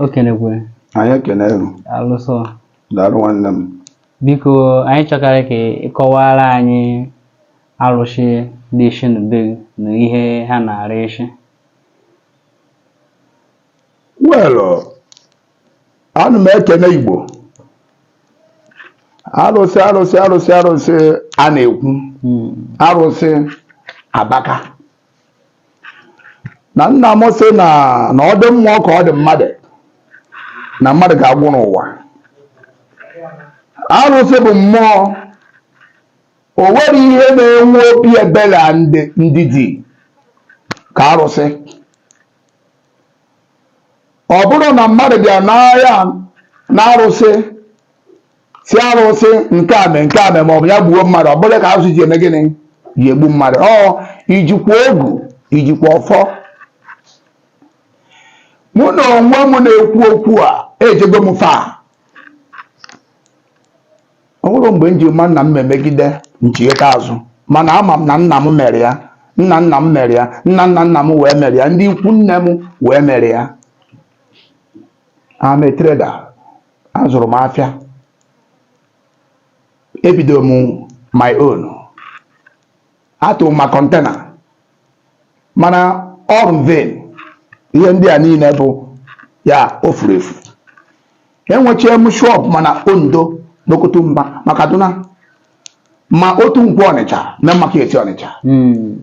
okenekwe anyị ekene gị alụsọ daalụ nwanne m biko anyị chọkarị ka ị kọwara anyị alụsị dị isi na be gị na ihe ha na-ara isi wel ana m ekene igbo arụsị a na-ekwu Mm, arụsị abaka na nna m sị na ọ dị mmụọ ka ọ dị mmadụ na mmadụ ga-agwụ n'ụwa arụsị bụ mmụọ o nwere ihe na-enwe obi ebere na ndidi ka arụsị ọ bụrụ na mmadụ bịa n'agha na arụsị sị arụsị nke a mee nke a mee ma ọ bụ ya gbuo mmadụ ọ bụrụ ka arụsị ji eme gịnị ji egbu mmadụ ọ i jikwa ogu i jikwa ọfọ mụ na onwe m na-ekwu okwu a ejego m far ọ bụrụ mgbe m ji ma na m emegide m chighata azụ mana ama m na nna m mere ya nna nna m mere ya nna nna nna m wee mere ya ndị ikwu nne m wee mere ya I'm a trader azụrụ m afịa ebido m my own atụ ma container mana all vain ihe ndị a niile bụ ya o furu efu enwechie m shop ma na ondo n'okotu mba ma kaduna ma otu nkwọ ọnịcha main market ọnịcha hmm.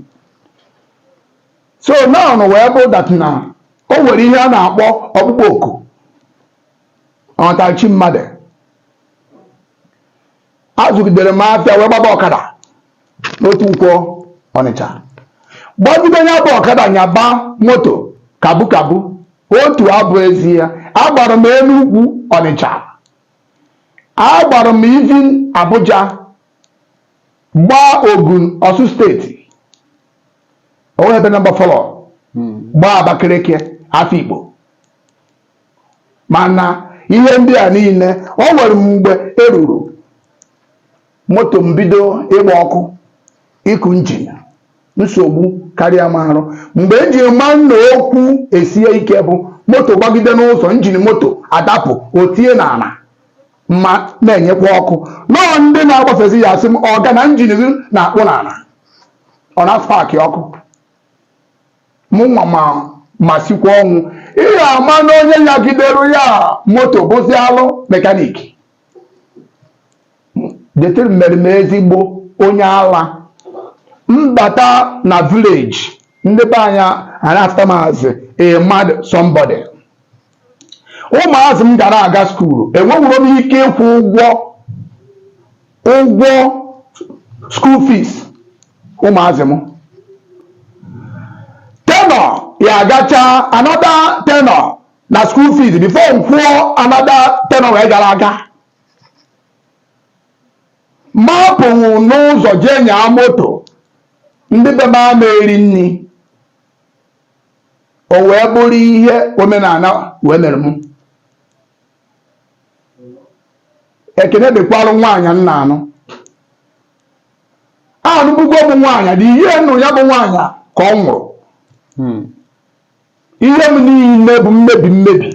so now wee bụ that na o nwere ihe a na-akpọ ọkpụkpọ oku ọnatachi mmadụ azụgidere m afịa wee gbaba ọkada n'otu nkwọ ọnịcha gbagide ya bụ ọkada nyaba moto kabu kabu otu abụ ezi ya agbara m enugwu ọnịcha agbara m even abuja gbaa ogun osun state o nwe ebe nọmba fọlọ gbaa abakaliki afikpo mana ihe ndị a niile o nwere mgbe e ruru moto m bido ịgba ọkụ ịkụ engine nsogbu karịa m arụ mgbe m ji ma na okwu esie ike bụ moto gbagide n'ụzọ engine moto adapụ o tie n'ala ma na-enyekwa ọkụ na ọ ndị na-agbafezi ya asị m ọga na engine gị na-akpụ n'ala ọ na-aspark ọkụ mụnwa ma ma sikwa ọnwụ ị ya-ama na onye nyagidere ya moto bụzi half mechanic dirty mere m ezigbo onye ala m bata na village ndị be anyị a na-afụta m as a mad somebody ụmụazị m gara aga skuulu enwewuro m ike ịkwụ ụgwọ ụgwọ school fees ụmụazị m tenure ya agacha another tenure na school fees before m kwụọ another tenure wee gara aga m apụwụ n'ụzọ jee nyaa moto ndị be m ama eri nri o wee bụrụ ihe omenala wee mere m ekene dịkwalụ nwaanyị m na-anụ anụbugo m nwaanyị the year m nụrụ ya bụ nwaanyị ka ọ nwụrụ ihe m niile bụ mmebi mmebi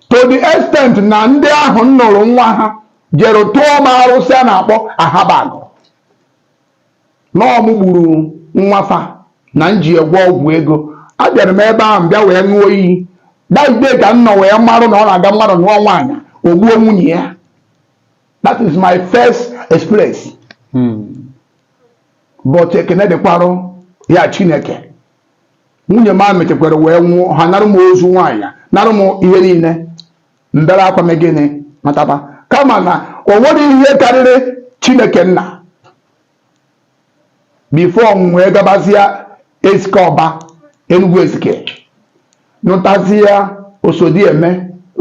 to the extent na ndị ahụ m nụrụ nwa ha jere tụọ m arụsị a na-akpọ ahabagụ na ọ mụ gburu nwa fa na m ji ya gwọọ ọgwụ ego abịara m ebe ahụ bịa wee ṅụọ iyi that day ka m nọ wee marụ na ọ na-aga mmadụ nụọ nwaanyị o gbuo nwunye ya that is my first experience but ekene dịkwarụ ya chineke nwunye m a mechekwara wee nwụọ ha narụ m ozu nwaanyị narụ m ihe niile m bere akwa mee gịnị mataba kama na o nwerọ ihe karịrị chineke nna before m wee gabazia ezike ọba enugwu ezike nụtazia osodieme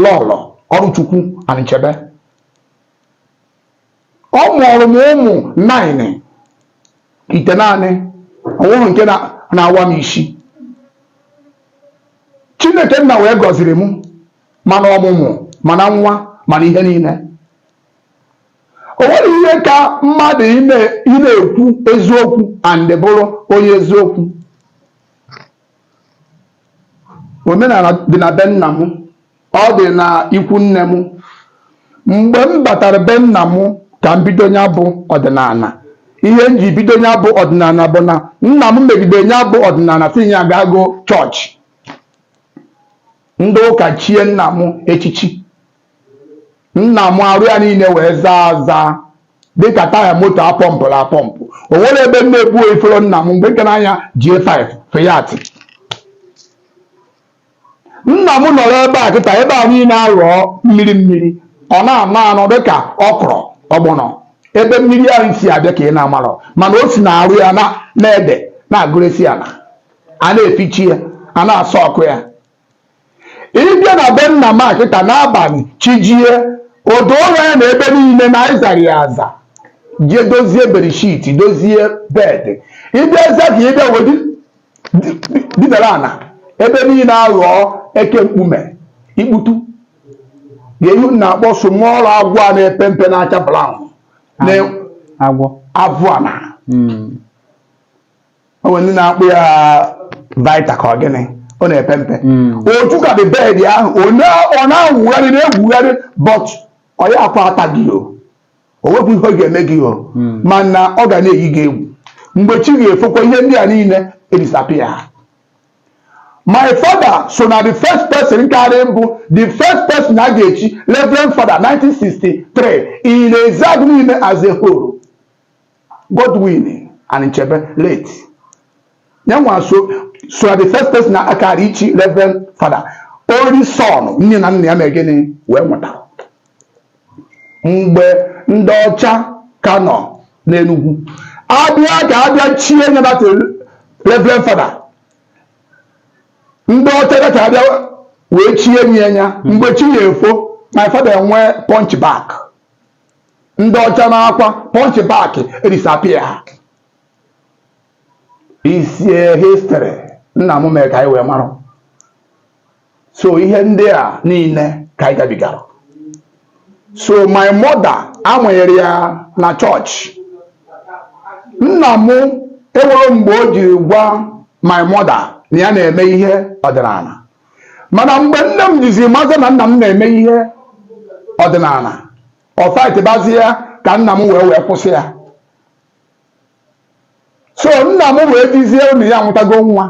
lọlọ ọrụchukwu anịchebe ọ mụọrọ m ụmụ nine itenaanị o nwerọ nke na-awa m isi chineke nna wee gọziri m ma na ọmụmụ ma na nwa ma na ihe niile o nwerọ ihe ka mmadụ ị na-ekwu eziokwu and bụrụ onye eziokwu omenala dị na be nna m ọ dị na ikwu nne m mgbe m batara be nna m ka m bido nya bụ ọdịnala ihe m ji bido nya bụ ọdịnala bụ na nna m megide nya bụ ọdịnala sị ya ga-agọ chọọchị ndị ụka chie nna m echichi nna m arụ ya niile wee zaa aza dịka taya moto a pọmpụrụ apọmpụ o nwerọ ebe m na-ebufero nna m mgbe m ka na-anya J5 Fiat nna m nọrọ ebe a kịta ebe a niile aghọọ mmiri mmiri ọ na-ama anọ dịka okro ọgbọnọ ebe mmiri ahụ si abịa ka ị na-amarọ mana o si na arụ ya na-ede na-agụresi ala a na-efichi ya a na-asọ ọkụ ya ị bịa na be nna m kịta n'abalị chijie odo ụra ya na ebe niile na ị zara ya aza jee dozie bedsheet dozie bed ị bịazie ka ị bịa wee didara ana ebe niile aghọọ eke mkpume ikputu ga-ehu na-akpọ small agwọ a na-epe mpe na-acha brown avụ ana o nwere ndị na-akpọ ya viper ka ọ gịnị ọ na-epe mpe hmm. otu ka the bed ahụ ọ na-awụgharị na-egwugharị but ọ ya akwa ata gị o o nweghị ihe ọ ga-eme gị o hmm. mana ọ ga na-eyi gị egwu mgbe chi ga-efokwa ihe ndị a niile edisappear my father so na the first person karị mbụ the first person a ga-echi reverend father 1963 in Ezeagu niile as a whole Godwin Anichebe late nya nwa so na the first person na a kara ichi Reverend Father only son nne na nna ya mere gịnị wee nwụtara mgbe ndị ọcha ka nọ n'Enugu a bịa ka a bịa chie nya that Reverend Father ndị ọcha bịa ka a bịa wee chie nye ya mgbe chi ya-efo my father nwee hunchback ndị ọcha naakwa hunchback disappear is a history nna m mere ka anyị wee mara so ihe ndị a niile ka anyị gabigara so my mother a mụnyere ya na chọọchị nna m enwerọ mgbe o jiri gwa my mother na ya na-eme ihe ọdịnala mana mgbe nne m jizi mazie na nna m na-eme ihe ọdịnala ọ faịtịbazi ya ka nna m wee wee kwụsị ya so nna m wee jizie na ya amụtago nwa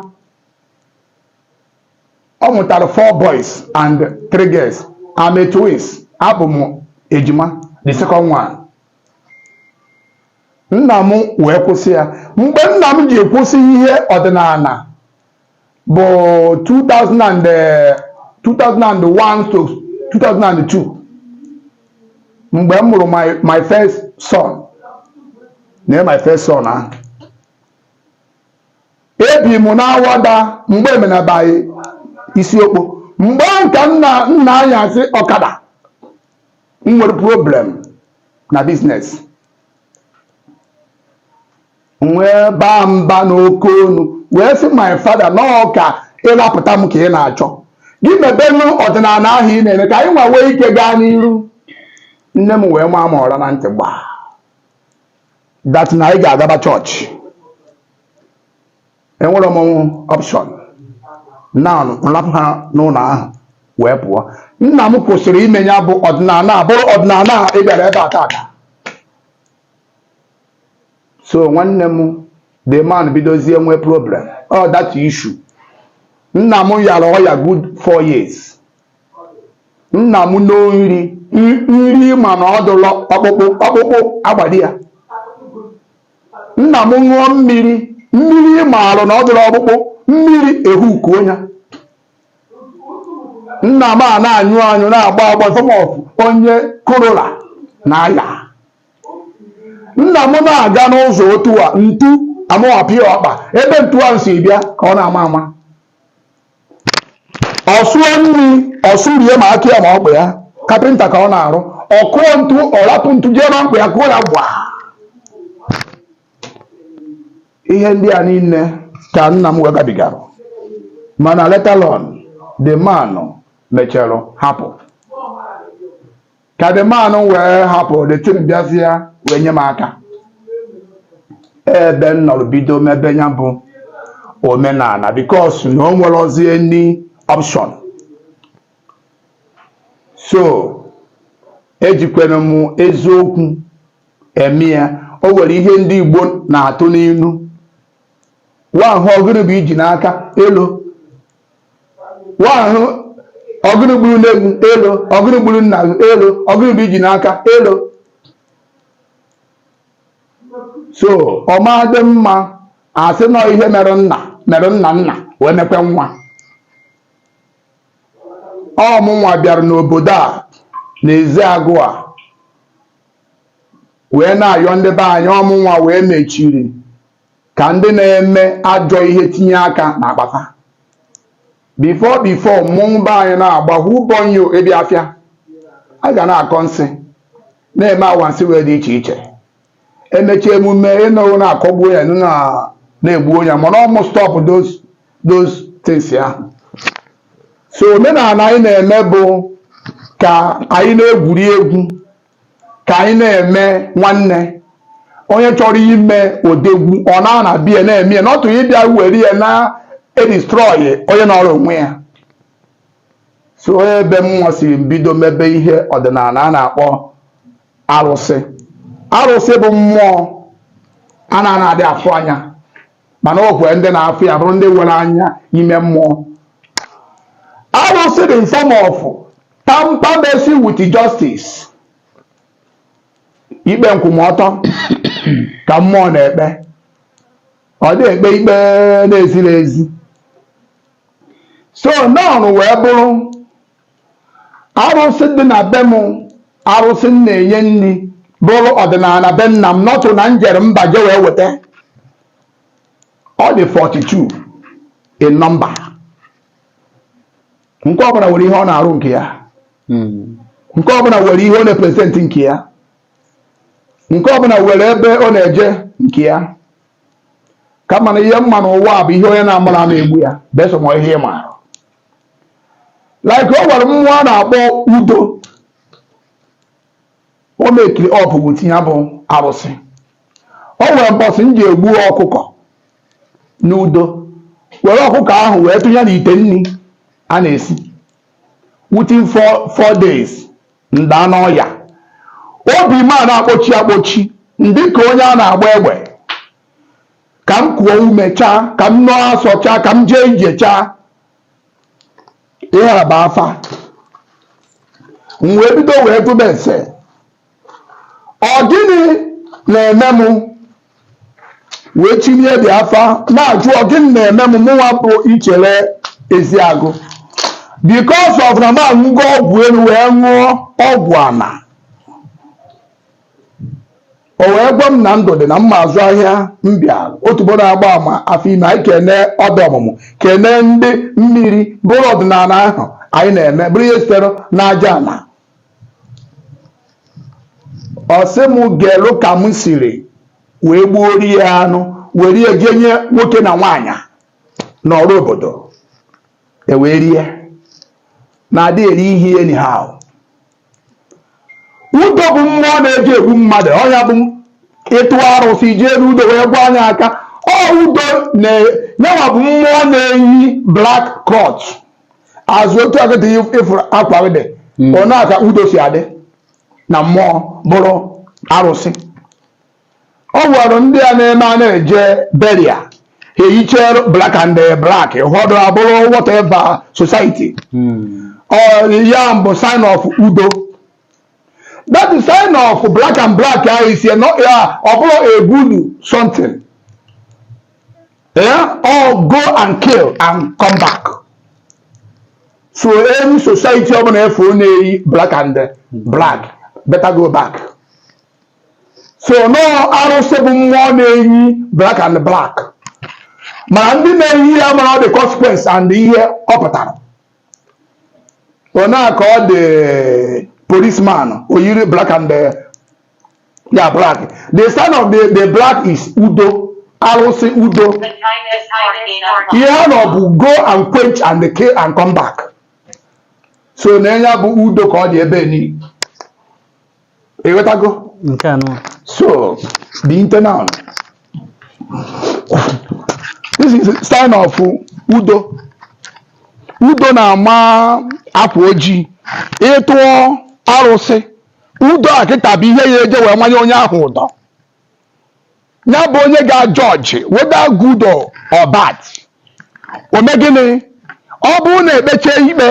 ọ mụtara four boys and three girls I'm a twins abụ m ejima the second one nna m wee kwụsị ya mgbe nna m ji kwụsị ihe ọdịnala bụ 2001-2002 mgbe m mụrụ my first son na my first son ahụ ebi m n'Awada mgbe emenabaghị isiokpo mgbe m ka na-anyasị ọkada m nwere problem na business wee baa mba n'oke onu wee sị my father na ọ ka ịlapụta m ka ị na-achọ gị mebenụ ọdịnala ahụ ị na-eme ka anyị nwa nwee ike gaa n'iru nne m wee maa m ọra na ntị gbaa that na anyị ga-agaba chọọchị enwerọ m option na m rapụ ha n'ụlọ ahụ wee pụọ nna m kwụsịrị ime ya bụ ọdịnala bụrụ ọdịnala ị bịara ebe a taata so nwanne m the man bidozie nwee problem o that issue nna m yara ọya good four years nna m noo nri nri ma na ọ dụlọ ọkpụkpụ ọkpụkpụ agbado ya nna m ṅụọ mmiri mmiri maarụ na ọ dụlọ ọkpụkpụ mmiri ehukuo ya nna m a na-anyụ anyụ na-agba agba sọmọfụ onye cholera na-aya nna m na-aga n'ụzọ otu a ntu amapịa ọkpa ebe ntu ahụ si bịa ka ọ na-ama ama ọ sụọ nri ọ sụrie ma aka ya ma ọkpa ya kapịnta ka ọ na-arụ ọ kụọ ntu ọ rapụ ntu jee n'ọkpa ya kụọ ya gba ihe ndị a niile ka nna m wee gabigara mana later on the man mechara hapụ ka the man wee hapụ the thing bịazie wee nye m aka ebe m nọrọ bido mebe ya bụ omenala because na o nwerọzi any option so ejikwere m eziokwu eme ya o nwere ihe ndị Igbo na-atụ n'ilu nwa ahụ ọgụrụ bụ iji n'aka elo wa ahụ ọgụrụ gburu nne gị elo ọgụrụ gburu nna gị elo ọgụrụ bụ iji n'aka elo so ọ ma adị mma a sị na ọ ihe mere nna mere nna nna wee mekwe nwa ọ mụnwa bịara n'obodo a n'eziagụ a wee na-ayọ ndị be anyị ọ mụnwa wee mechiri ka ndị na-eme ajọ ihe tinye aka n'akpa fa before before mmọnwụ be anyị na-agba hubonyo ebi afịa a ga na-akọ nsi na-eme anwansị wee dị iche iche e mecha emume ị nụrụ na a kọgbuo onye na- na e gbuo onye mana ọ mụ stop those those things ya so omenala anyị na-eme bụ ka anyị na-egwuri egwu ka anyị na-eme nwanne onye chọrọ ime odegwu ọ naa na be ya na-eme ya not ịbịa were ya na-edestroy onye nọrọ onwe ya so ọ ebe mụnwa siri bido mebe ihe ọdịnala a na-akpọ arụsị arụsị bụ mmụọ a na-ana adị afụ anya mana o kwere ndị na-afụ ya bụrụ ndị nwere anya ime mmụọ arụsị dị in form of temper mercy with justice ikpe nkwụmọtọ ka mmụọ na-ekpe ọ dị ekpe ikpe na-ezirọ ezi so nọn wee bụrụ arụsị dị na be m arụsị m na-enye nri bụrụ ọdịnala be nna m not na m jere mba je wee weta ọ dị 42 in number nke ọbụla nwere ihe ọ na-arụ nke ya nke ọbụla nwere ihe ọ na-epresent nke ya nke ọbụla nwere ebe ọ na-eje nke ya kama na ihe m ma n'ụwa bụ ihe onye na-amarọ ama egbu ya besọ ma ihe ị maara like o nwere mmụọ a na-akpọ udo o mekiri ọpụ bụ tinye bụ arụsị o nwere mbọsị m ji egbu ọkụkọ n'udo were ọkụkọ ahụ wee tụnye n'ite nri a na-esi within four days m daa n'ọya obi m ana-akpọchi akpọchi m dị ka onye a na-agba egbe ka m kuo ume chaa ka m noo asọ chaa ka m jee ije chaa ihe abaa afa m wee bido wee jụba ese ọ gịnị na-eme m wee tinye ndị afa na-ajụ ọ gịnị na-eme m mụnwa bụ ichere eziagụ because of na m aṅụgo ọgwụ elu wee ṅụọ ọgwụ ana o wee gwa m na ndụ dị na mma azụ ahịa mbịa otubo na-agba ama afọ ime anyị kene ọdụ ọmụmụ kene ndị mmiri bụrụ ọdịnala ahụ anyị na-eme bụrụ ihe sitere n'aja ala ọ sị m ga-elu ka m siri wee gbuoro ya anụ were ya jee nye nwoke na nwaanyị n'ọrụ obodo e wee rie na a dị eri ihe anyhow udo bụ mmụọ na-eji egbu mmadụ ọ ya bụ ịtụ arụsị jee n'udo wee gwa anya aka ọ udo yanwa bụ mmụọ na-eyi black cloth as otu a kịta ị fụrụ akwa dị hmm. ọ na-aka udo si adị na mmụọ bụrụ arụsị O nwere ndị a na-eme a na-eje burial ha eyichee black and eh, black ụfọdụ abụrụ whatever society hmm. ya bụ sign of udo that is sign of black and black ahụ isi ya ọ bụrọ a good something yeah? or go and kill and come back so any society ọbụla ị fụ na-eyi black and eh, black better go back so n'ọ arụsị bụ mmụọ na-eyi black and black mana ndị na-eyi ya amarọ the consequence and ihe ọ pụtara ọ nya ka ọ dị policeman o yiri black and eh, ya black the sign of the, the black is udo arụsị udo ihe ha nọ bụ go and quench and kill and come back so na ya bụ udo ka ọ dị ebe niile ị ghọtago nke a nụ so the internal this is a sign of udo udo na-ama akwa ojii ị tụọ arụsị udo a kịta bụ ihe ya eje wee manye onye ahụ ụdọ ya bụ onye ga-ajudge whether good or or bad o mee gịnị ọ bụrụ na ekpecha ikpe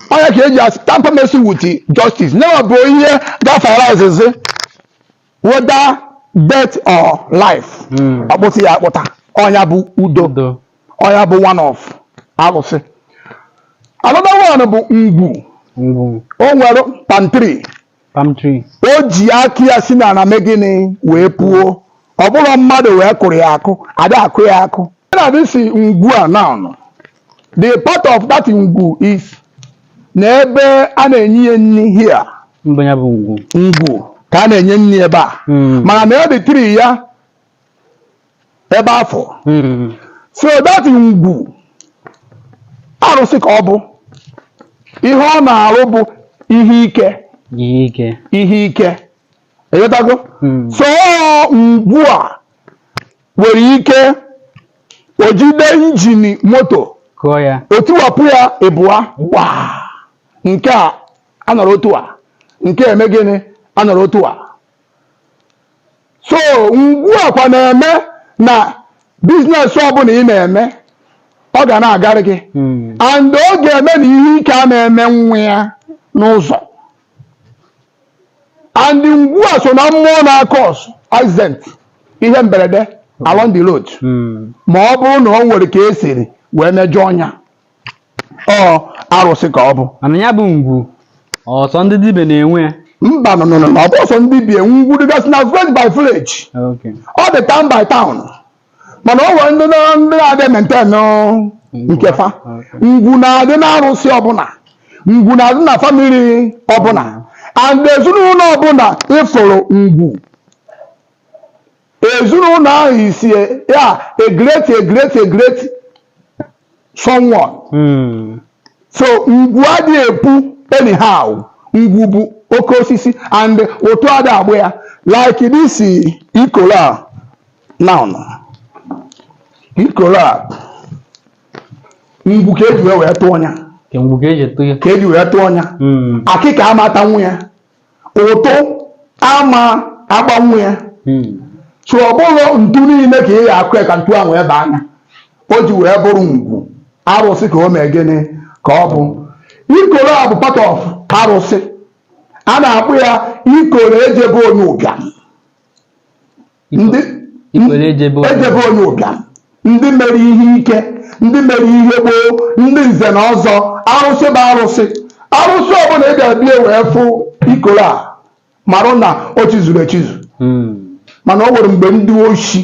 ọ nya ka e ji asị tamper mercy with justice nyewa bụ ihe gafere izizi whether death or life Mm. ọ kpụsị ya akpụta ọ nya bụ udo Udo. ọ nya bụ one of arụsị another one bụ ngwu Ngwu. o nwere palm tree palm tree o ji aka ya si n'ala mee gịnị wee puo ọ bụrọ mmadụ wee kụrụ ya akụ a da-akụ ya akụ na this ngwu a now the part of that ngwu is na ebe a na-enye ya nri here mgbe ya bụ ngwu ngwu ka a na-enye nri ebe a Mm. mana na ọ the tree ya ebe afụ Mm. so that ngwu arụsị ka ọ bụ ihe ọ na-arụ bụ ihe ike Ihe ike. ihe ike ị ghọtago Mm. so ngwu a nwere ike o jide engine moto Kụọ ya. o tiwapụ ya ibụa gbaa nke a anọrọ otu a nke eme gịnị anọrọ otu a so ngwu a kwa na-eme na business ọbụla ị na-eme ọ ga na-agarị gị hmm. and ọ ga-eme na ihe ike a na-eme nwa ya n'ụzọ and ngwu a so na mmụọ na-acause accident ihe mberede along the road hmm. ma ọ bụrụ na ọ nwere ka e siri wee mejọọ nya ọ arụsị ka ọ bụ mana ya bụ ngwu ọ sọ ndị dibịa na-enwe ya mba no no no ọ bụrọ sọ ndị dibịa ngwu dịgasị na village by village Okay. ọ dị town by town mana o nwere ndị na- ndị na-adị maintain nke fa Okay. ngwu na-adị n'arụsị ọbụla ngwu na-adị na family ọbụla and ezinụlọ ọbụla ị fụrụ ngwu Ezinụlọ ahụ isi ya a great a great a great someone. Mm. So ngwu adịghị epu anyhow. Ngwu bụ oke osisi and ụtụ adị agba ya. Like this ikoro a now. Ikoro a ngwu ka eji wee wee tụọ ya. Ka ngwu ka eji tụọ ya. Ka eji wee tụọ ya. Mm. Akịka ama atanwu ya. ụtụ ama agbanwu ya hmm. so ọ bụrọ ntu niile ka ị ga-akụ ya ka ntu ahụ wee baa nya o ji wee bụrụ ngwu arụsị ka o mee gịnị ka ọ bụ ikoro a bụ part of arụsị a na-akpọ ya ikoro eje be onye ụbịam ndị eje be onye ụbịam ndị mere ihe ike ndị mere ihe gboo ndị nze na ọzọ arụsị bụ arụsị arụsị ọbụla ị ga-abịa wee fụ ikoro a marụ na o chizuru echizu hmm. mana o nwere mgbe ndị oshi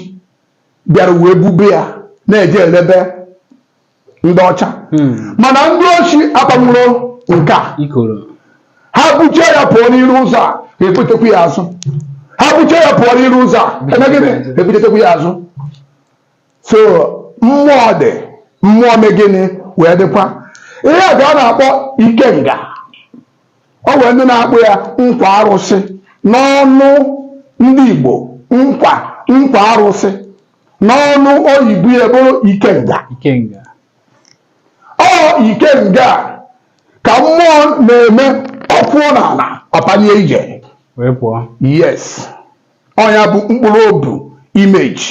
bịara wee bube ya na-eje elebe ndị ọcha hmm. mana ndị oshi akpanwurọ nke a ha buchie ya pụọ n'iru ụzọ a ebutekwu ya azụ ha buchie ya pụọ n'iru ụzọ a emegịnị ebutetekwu ya azụ so mmụọ dị mmụọ megịnị wee dịkwa ihe a ka a na-akpọ ikenga o nwere ndị na-akpọ ya nkwa arụsị n'ọnụ ndị Igbo nkwa nkwa arụsị n'ọnụ oyibo ya bụrụ ikenga ikenga ọ ikenga a ka mmụọ na-eme ọ kụọ n'ala ọ panie ije wee pụọ yes ọ ya bụ mkpụrụ ọ bụ image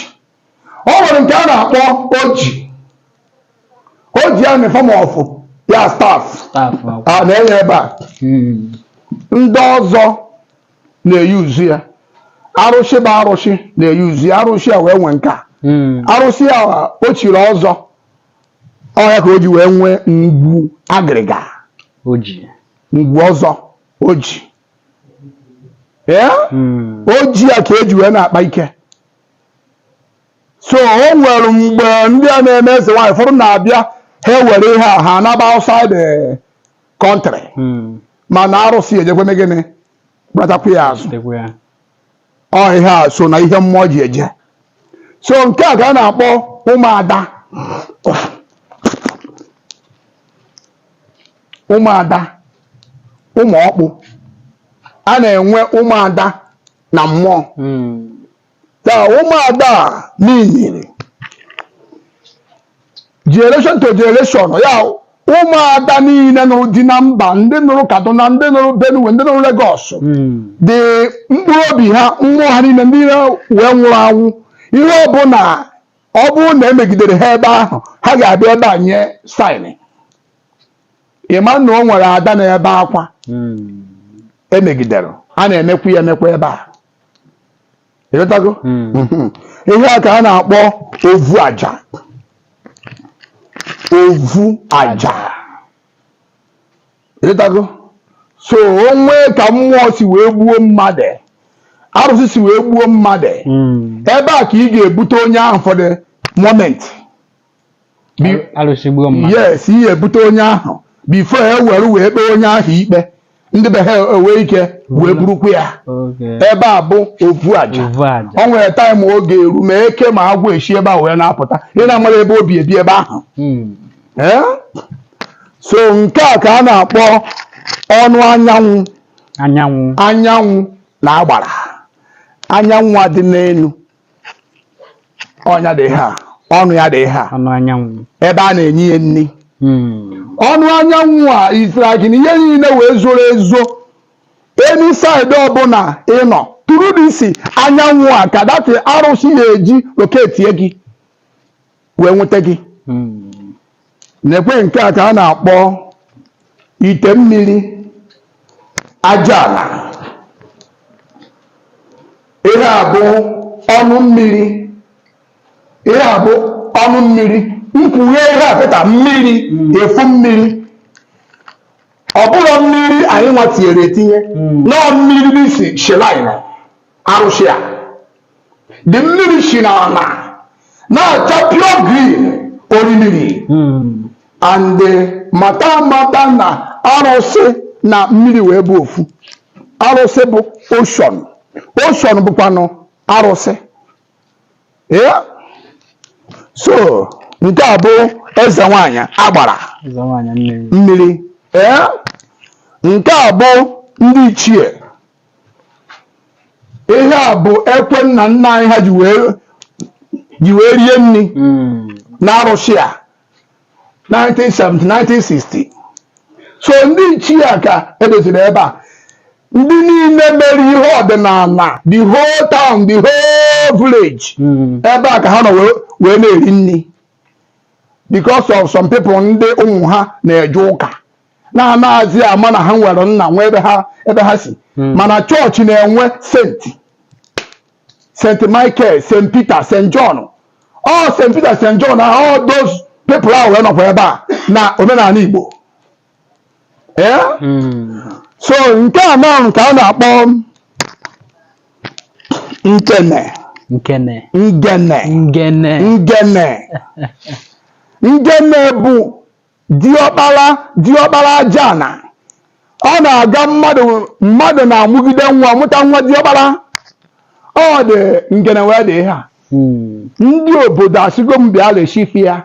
ọ nwere nke a na-akpọ oji oji a na form of ya staff staff a na-enyebe ndị ọzọ na-eyuzu ya arụsị bụ arụsị na-eyuzu ya arụsị a wee nwee nke a hmm. arụsị a o chiri ọzọ ọ ya ka o ji wee nwee ngwu agịrịga ngwu ọzọ oji hmm. oji a ka eji wee na-akpa ike so o nwere mgbe ndị a na-eme eze nwaanyị ụfọdụ na-abịa ha ewere ihe a ha anaba outside eh, country Mm. mana arụsị ya-ejekwa gịnị gbatakwa ya azụ Dịkwa ya. ọ ihe a so na ihe mmụọ ji eje so nke a ka a na-akpọ ụmụada ụmụada ụmụ ọkpụ a na-enwe ụmụada na mmụọ Mm. ka ụmụada a niile generation to generation ya ụmụada niile nụrụ di na mba ndị nụrụ kaduna ndị nụrụ benue ndị nụrụ lagos the mkpụrụ obi ha mmụọ ha niile ndị niile wee nwụrụ anwụ ihe ọbụla ọ bụrụ na e megidere ha ebe ahụ ha ga-abịa ebe a nye sign ị ma na o nwere ada na-ebe akwa e megidere a na-emekwu ya emekwa ebe a ị ghọtago Mhm. ihe a ka a na-akpọ ovu aja ovu aja ị ghọtago so o nwee ka mmụọ si wee gbuo mmadụ arụsị si wee gbuo mmadụ Mm. ebe a ka ị ga-ebute onye ahụ for the moment yes ị ya-ebute onye ahụ before e were wee kpee onye ahụ ikpe ndị be ha enwee ike wee burukwa ya ebe a bụ ovu aja o nwere time oge eru ma eke ma agwọ eshi ebe a wee na-apụta ị na-amara ebe o bi ebi ebe ahụ hmm. eh? so nke a ka a na-akpọ ọnụ anyanwụ anyanwụ anyanwụ na agbara anyanwụ a dị n'elu ọnụ ya dị ihe a ọnụ ya dị ihe a ọnụ anyanwụ ebe a na-enye ya nri Hmm. ọnụ anyanwụ a is like na ihe niile wee zoro ezo any side ọbụla ị nọ through this anyanwụ a ka that arụsị ya-eji loketie gị wee nweta gị nekwe nke a ka a na-akpọ ite mmiri aja ala ihe a bụ ọnụ mmiri ihe a bụ ọnụ mmiri mkpughe ihe a pụta mmiri efu mmiri ọ bụrọ mmiri anyị nwa tinyere etinye no mmiri this shrine arụsị a the mmiri si n'ala na-acha pure green orimiri hmm. and eh, mata mata na arụsị na mmiri wee bụ ofu arụsị bụ ocean ocean bụkwanụ arụsị ya so nke a bụ eze nwanyị agbara mmiri ee nke a bụ ndị ichie ihe a bụ ekwe nna nna anyị ha ji wee ji wee rie nni na arụsị a 1970 1960 so ndị ichie a ka e doziri ebe a ndị niile mere ihe ọdịnala the whole town the whole village ebe a ka ha nọ wee wee na-eri nni because of some people ndị ụmụ ha na-eje ụka na-anaghịzi ama na ha nwere nna nwe ebe ha ebe ha si hmm. mana chọọchị na-enwe senti St. Michael, St. Peter, St. John all St. Peter, St. John na all those people ahụ wee nọkwa ebe a na omenala Igbo ee eh? hmm. so nke a na nke a na-akpọ nkene nkene ngene ngene ngene ngene bụ Diọkpara diọkpara aja ana. Ọ na-aga mmadụ mmadụ na-amụgide nwa mụta nwa diọkpara. Ọ dị ngene wee dị ihe a. Hmm. Ndị obodo asịgo m bịa reshifi ya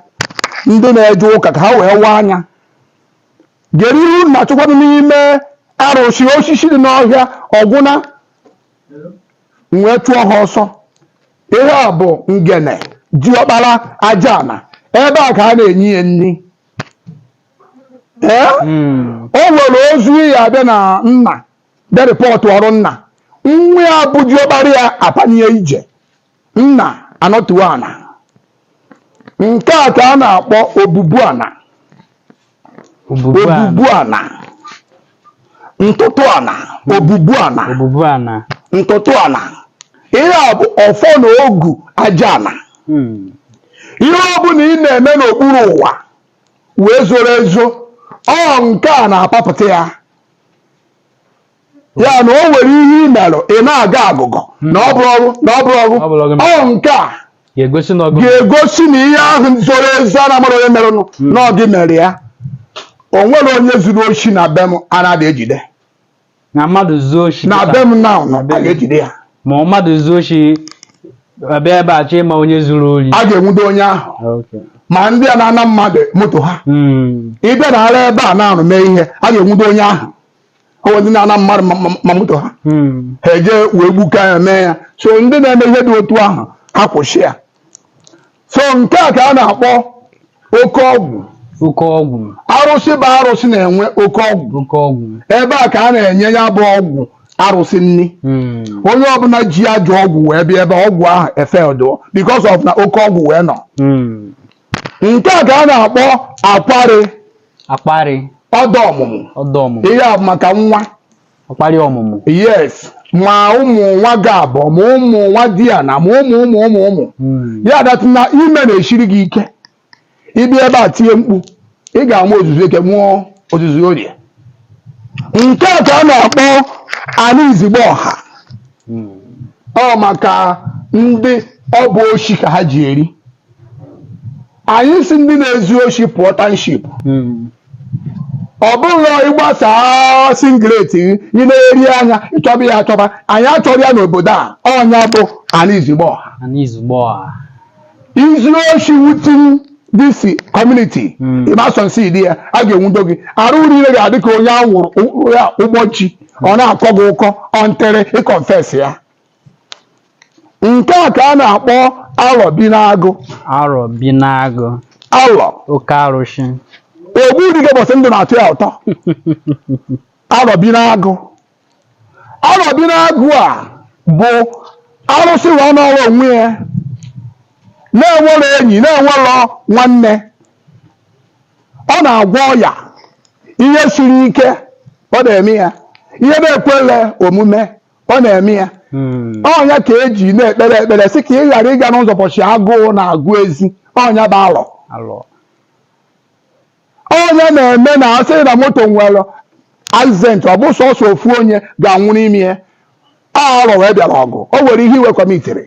ndị na-eje ụka ka ha wee waa anya gere ihe unu na-achọkwanụ n'ime arụsị osisi dị n'ọhịa ọgwụna m wee chụọ ha ọsọ Ihe a bụ ngene diọkpara aja ana ebe a ka a na-enye ya nni ee o nwere ozu ya abịa na nna bịa reportụọrụ nna nwa ya bụ diọkpara ya apanye ije nna anọtuo ana nke a ka a na-akpọ obubu ana Obubu ana. obubu ana ntụtụ ana obubu ana Obubu ana. ntụtụ ana ihe a bụ ọfọ na ogu aja ana Hmm. ihe ọ bụla ị na-eme n'okpuru ụwa wee zoro ezo ọ nke a na-apapụta ya ya na o nwere ihe ị merụ ị na-agọ agụgọ na ọ bụrọ gụ na ọ bụrọ gụ Ọ bụrọ gụ. ọ nke a ga-egosi na ọ gụ ga-egosi na ihe ahụ zoro ezo a na-amarọ onye merụnụ na ọ gị mere ya o nwere onye zuru oshi na be m anadị ejide na mmadụ zuo oshi na kịta, be m na ụnọ a ga-ejide ya ma ọ mmadụ zuo oshi abịa ebe a chọọ ịma onye zuru ori a ga-enwudo onye ahụ Okay. ma ndị a na-ana mmadụ moto ha Mm. ị bịa nọrọ ebe a nọrụ mee ihe a ga-enwudo onye ahụ o nwee ndị na-ana mmadụ ma- ma- ma moto ha Hmm. ha eje wee gbuka ya mee ya so ndị na-eme ihe dị otu ahụ ha kwụsị ya so nke a ka a na-akpọ oke ọgwụ oke ọgwụ arụsị bụ arụsị na-enwe oke ọgwụ oke ọgwụ ebe a ka a na-enye ya bụ ọgwụ arụsị nni Hmm. onye ọbụla ji ajọ ọgwụ wee bịa ebe ọgwụ ahụ efedụọ because of na oke ọgwụ wee nọ Hmm. nke a ka a na-akpọ akwarị akwarị ọdọ ọmụmụ ọdọ ọmụmụ ihe a bụ maka nwa akwarị ọmụmụ yes ma ụmụ nwa gị abụọ ma ụmụ nwadiana ma ụmụ ụmụ ụmụ ụmụ Mm. ya datụ na ime na-esiri gị ike ị bịa ebe a tie mkpu ị ga-amụ ozuzu eke mụọ ozuzu orie nke a ka a na-akpọ anị izigbo ọha Mm. ọ maka ndị ọ bụ oshi ka ha ji eri anyị si ndị na-ezu oshi pụọ township ọ bụrụ ị gbasa singlet gị ị na-eri anya ị chọba ya achọba anyị achọrọ ya n'obodo a ọnya bụ anị izigbo ọha Ana izugbo ọha. izu oshi within this community Mm. ịmasọnsi dị ya a ga-enwudo gị arụ niile ga-adị ka onye a wụrụ ụgbọ chi ọ na-akọ gị ụkọ until ị confess ya nke a ka a na-akpọ alọ bi n'agụ arọ bi n'agụ alọ oke arụsị ogbu dike bọsị ndụ na-atọ ya ụtọ alọ bi n'agụ alọ bi n'agụ a bụ arụsị wee nọrọ onwe ya na-enwerọ enyi na-enwerọ nwanne ọ na-agwọ ọya ihe siri ike ọ na-eme ya ihe na-ekwele omume ọ na-eme ya hmm. ọnya ka e ji na-ekpere ekpere sị ka ị ghara ịga n'ụzọ ụbọchị agụụ na-agụ ezi ọnya bụ alọ ọnya na-eme na a sị na moto nwere accident ọ bụ sọsọ ofu onye ga-anwụ n'ime ya alọ wee bịara ọgụ o nwere ihe i wee kọmitere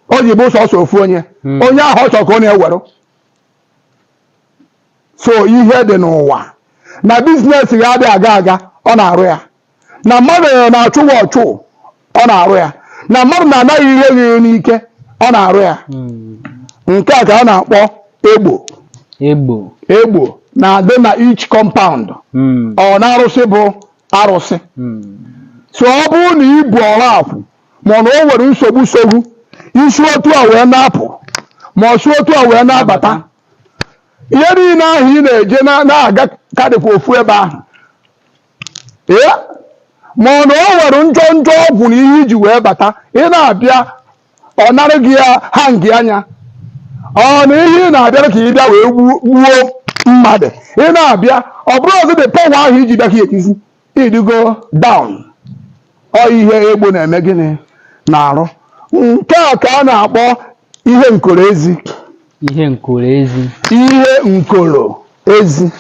o ji bụ sọsọ ofu onye hmm. onye ahụ ọ chọrọ ka ọ na-ewere so ihe dị n'ụwa na business gị adị aga aga ọ na-arụ ya na mmadụ na-achụ gị ọchụ ọ na-arụ ya na mmadụ na-ana gị ihe gị n'ike ọ na-arụ ya nke a ka a na-akpọ egbo egbo egbo na-adị na each compound Mm. ọ na arụsị bụ arụsị Mm. so ọ bụrụ na i bu ọrụ akwụ ma ọ na o nwere nsogbu sogbu i si otu a wee na-apụ ma ọ si otu a wee na-abata ihe niile ahụ ị na-eje na- na-aga ga-adịkwa ofu ebe ahụ ee ma ọ na o nwere njọ njọ ọgwụ na ihe i ji wee bata ị na-abịa ọ narị gị ya ha ngị anya ọ na ihe ị na-abịara ka ị bịa wee gbuo gbuo mmadụ ị na-abịa ọ bụrụzị the power ahụ i ji bịa ka etizi ị dịgo down ọ ihe egbo na-eme gịnị na-arụ nke a ka a na-akpọ ihe nkoro ezi ihe nkoro ezi ihe nkoro ezi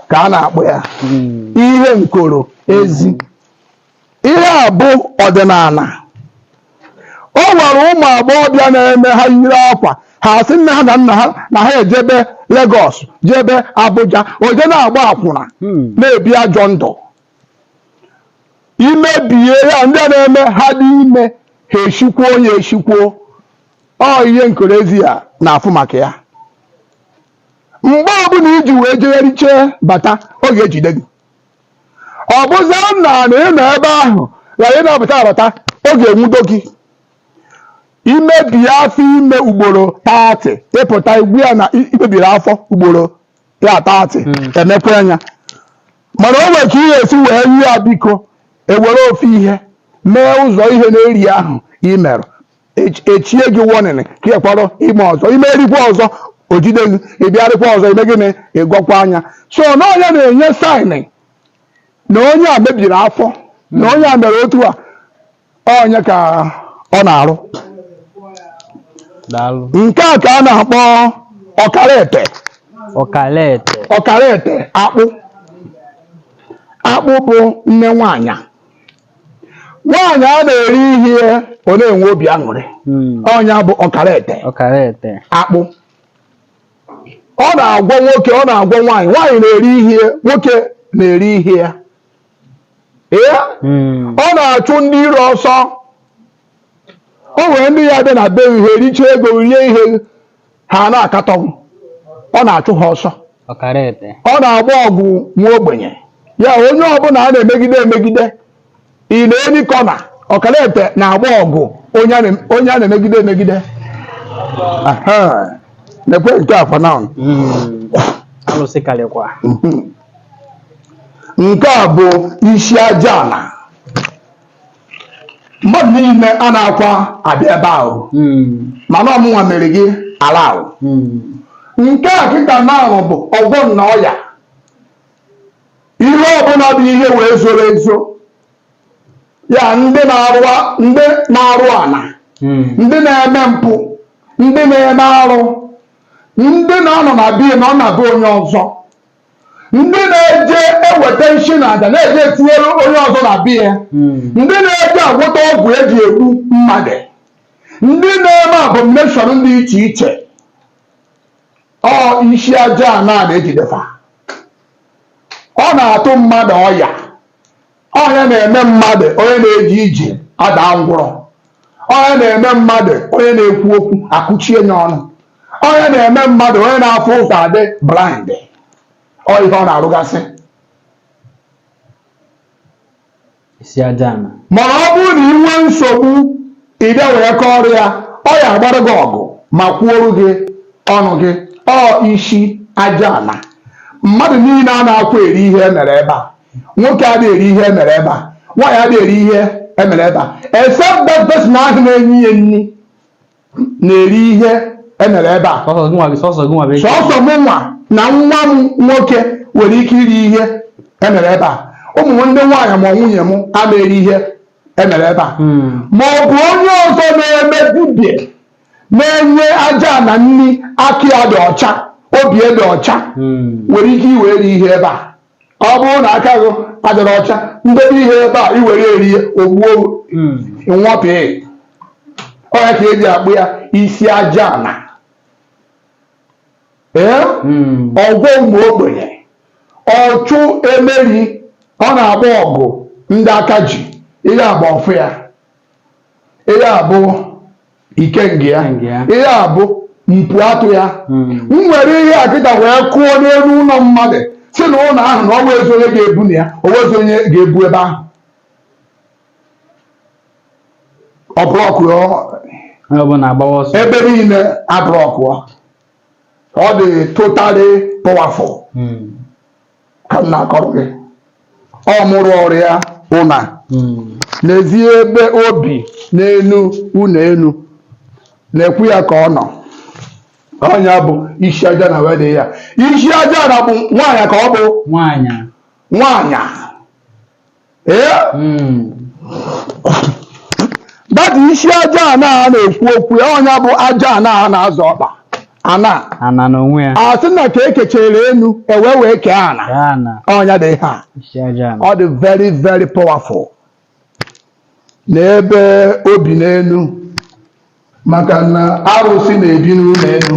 ka a na-akpọ ya Mm, ihe nkoro ezi ihe a bụ ọdịnana o nwere ụmụ agbọghọbịa na-eme ha yiri akwa ha sị nne ha na nna ha na ha ejebe Lagos jebe Abuja o je na-agba akwụna mm, na-ebi ajọ ndụ i mebie ya ndị a na-eme ha dị ime ha eshikwuo ya eshikwuo ọ ihe nkoro ezi ya na-afụ maka ya mgbe ọbụla i ji wee jegharịche bata ọ ga-ejide gị ọ bụzara na na ị nọ ebe ahụ ghara ịnabata abata ọ ga-enwudo gị i mebie afọ ime ugboro thirty ị pụta igbu ya na i mebiri afọ ugboro ya thirty emekwaa nya mana o nwere ka ị ya-esi wee nye ya biko e were ofu ihe mee ụzọ ihe na-eri ahụ i mere Ech- echie gị warning ka ị kpọrọ ime ọzọ i merikwa ọzọ o jide gị ị bịarịkwa ọzọ i mee gịnị ị gọkwaa nya so na ọ nya na-enye sign na onye a mebiri afọ na onye a mere otu a ọ nya ka ọ na-arụ daalụ nke a ka a na-akpọ ọkara ete ọkala ete ọkara ete akpụ akpụ bụ nne nwaanyị nwaanyị a na-eri ihe ọ na-enwe obi aṅụrị Mm, ọ nya bụ ọkara ete ọkala ete akpụ ọ na-agwọ nwoke ọ na-agwọ nwaanyị nwaanyị na-eri ihe nwoke na-eri ihe ya ee hmm. ọ na-achụ ndị iro ọsọ o nwere ndị ya-abịa na be gị richa ego rie ihe ha na-akatọ gị ọ na-achụ ha ọsọ ọ na-agba ọgụ nwa ogbenye ya onye ọbụla a na-emegide emegide in any corner ọkara ete na-agba ọgụ onye a na-emegide emegide nekwa nke akwa na hmm. alụsị karịkwa hmm. nke a bụ isi aja ana mmadụ niile a na-akwa abịa ebe ahụ hmm. mana ọ mụnwa mere gị ala ahụ hmm. nke a kịta na-ahụ bụ ọgwọ nnu ọya ihe ọbụla bụ ihe wee zoro ezo ya ndị na-arụ ndị na-arụ ana hmm. ndị na-eme mpụ ndị na-eme arụ ndị na-anọ na be ya na ọ na-abụ onye ọzọ ndị na-eje eweta nshi na aja na-eje etinyere onye ọzọ na be ya ndị na-eje agwọta ọgwụ eji egbu mmadụ ndị na-eme abomination dị iche iche ọ isi aja ana na-ejide fa ọ na-atụ mmadụ ọya ọ ya na-eme mmadụ onye na-eje ije ada ngwụrọ ọ ya na-eme mmadụ onye na-ekwu okwu akụchie ya ọnụ ọ ya na-eme mmadụ onye na-afụ ụzọ adị blind ọ ihe ọ na-arụgasị isi aja ana mana ọ bụrụ na ị nwee nsogbu i jee wee kọọrọ ya ọ ya agbara gị ọgụ ma kwuoru gị ọnụ gị ọ isi aja ana mmadụ niile anaghịkwa eri ihe emere ebe a nwoke ada eri ihe emere ebe a nwaanyị ada eri ihe emere ebe a except that person ahụ na-enye ya nni na-eri ihe emere ebe a sọsọ gị nwa gị sọsọ gị nwa bụ sọsọ mụ nwa na nwa m nwoke nwere ike iri ihe emere ebe a ụmụ m ndị nwaanyị ma nwunye m ama eri ihe emere ebe a hmm. ma ọ bụ onye ọzọ na-eme dibịa na-enye aja ana nni aka ya dị ọcha obi ya dị ọcha hmm. nwere ike iwere ihe ebe a ọ bụrụ na aka gị adịrọ ọcha m debe ihe ebe a i were eri ya o gbuo hmm. nwụọ pịị ọ ya ka e ji akpọ ya isi aja ana hmm. ọgwọ ụmụ ogbenye ọchụ emeri ọ na-agba ọgụ ndị aka ji ihe a bụ ọfọ ya ihe a bụ ikenga ya ihe a bụ mpi atụ ya hmm. m nwere ihe a kịta wee kụọ n'enu ụnọ mmadụ sị na ụnọ ahụ na o nwezi onye ga-ebu na ya o nwezi onye ga-ebu ebe ahụ ọ blọkụọ onye ọbụla agbawa ọsọ ebe niile ablọkụọ ọ dị totally powerful Mm, ka m na-akọrọ gị ọ mụrụ ọrụ ya ụna mm, n'ezi ebe o bi n'enu ụnọ enu na-ekwu ya ka ọ nọ ọ nya bụ isi aja ana wedị ya isi aja ana bụ nwaanyị ka ọ bụ nwaanyị nwaanyị ee that isi aja ana a na-ekwu okwu ya ọ nya bụ aja ana a na-azọ ọkpa ana ana n'onwe ya a sị na ka e kechere enu e wee wee kee ana ya ana ọ nya dị ihe a isi aja ana ọ dị very very powerful n'ebe o bi n'enu maka na arụsị na-ebi n'ụnọ enu